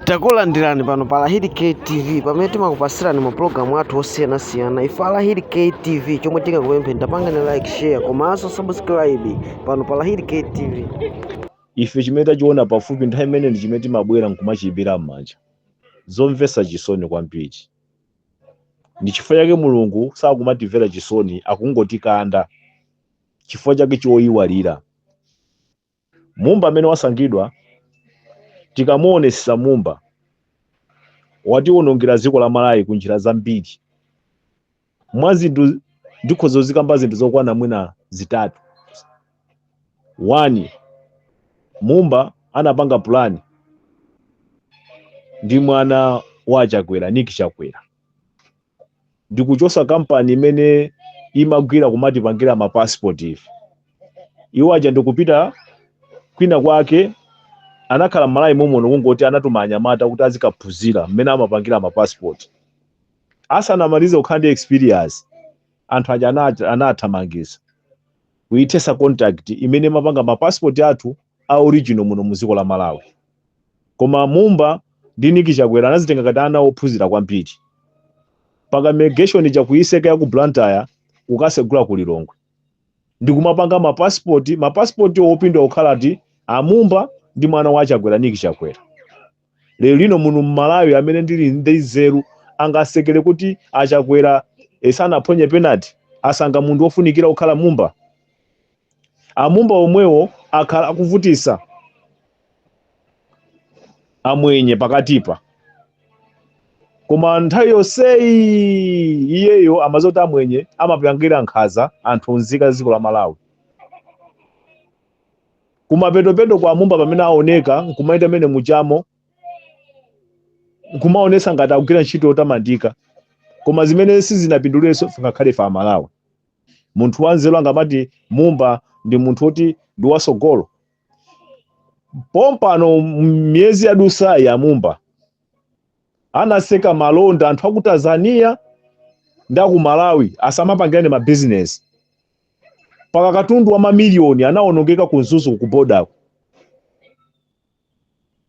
takulandirani pano pa lahidi ktv pamene timakupasirani mapulogalamu athu osiyanasiyana ife alahidi ktv chomwe tingakupempheni tapangani like share komanso subscribe pano pa lahidi ktv ife chimene tachiona pafupi nthawi imeneyo ndi chimene timabwera nkumachiimbira m'manja zomvetsa chisoni kwambiri ndi chifukwa chake mulungu sakumatimvera chisoni akungotikanda chifukwa chake choyiwalira mumba amene wasankhidwa tikamuonesesa mumba watiwonongera dziko la malawi ku njira zambiri mwa zinthu ndikhoza kuzikamba zinthu zokwana mwina zitatu wani mumba anapanga pulani ndi mwana wa chakwera Nick chakwera ndikuchosa kampani imene imagwira kumatipangira ma passport ife iwo aja ndikupita kwina kwake anakhala mmalawi momuno kungoti anatuma anyamata kuti azikaphunzira mmene amapangira ma passport asanamalize kukhala ndi experience anthu aja anat- anathamangisa kuithesa contract imene imapanga ma passport athu a original muno mu dziko la Malawi koma mumba ndi Nick Chakwera anazitenga ngati ana ophunzira kwambiri mpaka immigration ija kuiseka ya ku Blantyre kukasegula ku Lilongwe ndi kumapanga ma passport ma passport opindwa kukhala ngati amumba ndi mwana wa Chakwera Nick Chakwera lero lino muno mmalawi amene ali ndi nzeru angasekere kuti achakwera eh, sanaphonye penalty asankha munthu wofunikira kukhala mumba amumba omwewo akhala akuvutisa amwenye pakatipa koma nthawi yonseyi iyeyo amadziwa kuti amwenye amapangira nkhaza anthu nzika za dziko la malawi kumapetopeto kwa mumba pamene aoneka nkumaenda mmene mujamo nkumaonesa ngati akugwira ntchito yotamandika koma zimene sizinapindulirenso ngakhale ife amalawi munthu wanzeru angamati mumba ndi munthu woti ndi watsogolo pompano miyezi yadusayi amumba anaseka malonda anthu aku tanzania ndi aku malawi asamapangirane mabizinesi mpaka katundu wa mamiliyoni anawonongeka ku mzuzu ku bodako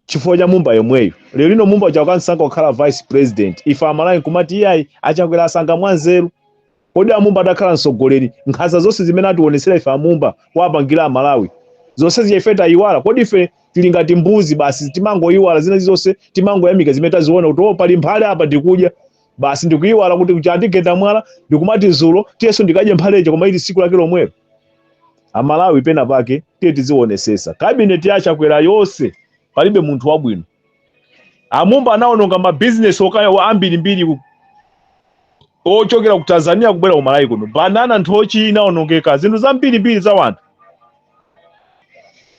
chifukwa cha mumba yemweyo lero lino mumba chakamusankha kukhala vice president ife amalawi kumati iyayi achakwera asankha mwanzeru kodi amumba adakhala mtsogoleri nkhanza zonse zimene atiwonetsera ife amumba wapangira amalawi zonse zija ife tayiwala kodi ife tili ngati mbuzi basi timangoyiwala zina zonse timangoyamika zimene taziona kuti o pali mphare apa ndikudya basi ndikuyiwala kuti kuja andigenda mwala ndikumati zulo tiyeso ndikadye mphaleja koma ili siku lake lomwelo amalawi pena pake tiye tiziwonesesa kabineti ya chakwera yonse palibe munthu wabwino a Mumba anawononga mabizinesi okaya wa ambirimbiri ku- ochokera ku tanzania kubwera ku malawi kuno banana nthochi inawonongeka zinthu zambirimbiri za wanthu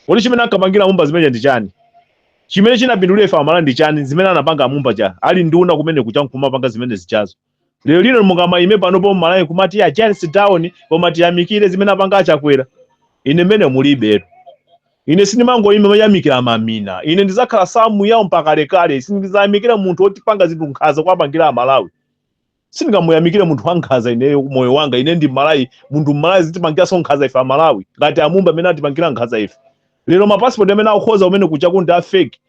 kodi chimene ankapangira a Mumba zimene zija ndi chani Chimene chinapindulira ife amalawi ndi chani zimene anapanga a Mumba aja ali nduna kumene kuja nkumapanga zimene zijazo lero lino mungamaime panopo mmalawi kumati a charles down koma tiyamikire zimene apanga achakwera ine mmene mulilitu ine sindimangoima kumayamikira mamina ine ndizakhala Samuel Lwara mpaka kalekale sindizayamikira munthu otipanga zinthu nkhaza kuwapangira amalawi sindingamuyamikire munthu wankhaza ineyo moyo wanga ine ndi mmalawi munthu mmalawi azitipangiranso nkhaza ife amalawi ngati a Mumba amene atipangira nkhaza ife lero mapasipoti amene akukonza kumene kuja ndi afeki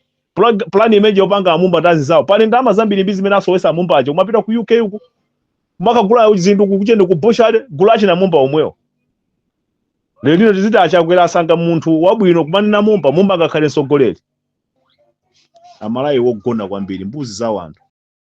pulani imene ija yopanga a Mumba ndi azizawo pali ndalama zambirimbiri zimene asowesa a Mumba aja kumapita ku uk uku kumakagula zinthu kutchende ku Bushiri gulu la achina amumba omwewo lero lino tiziti achakwera asankha munthu wabwino kumanena mumba mumba angakhale mtsogoleri amalawi wogona kwambiri mbuzi za wanthu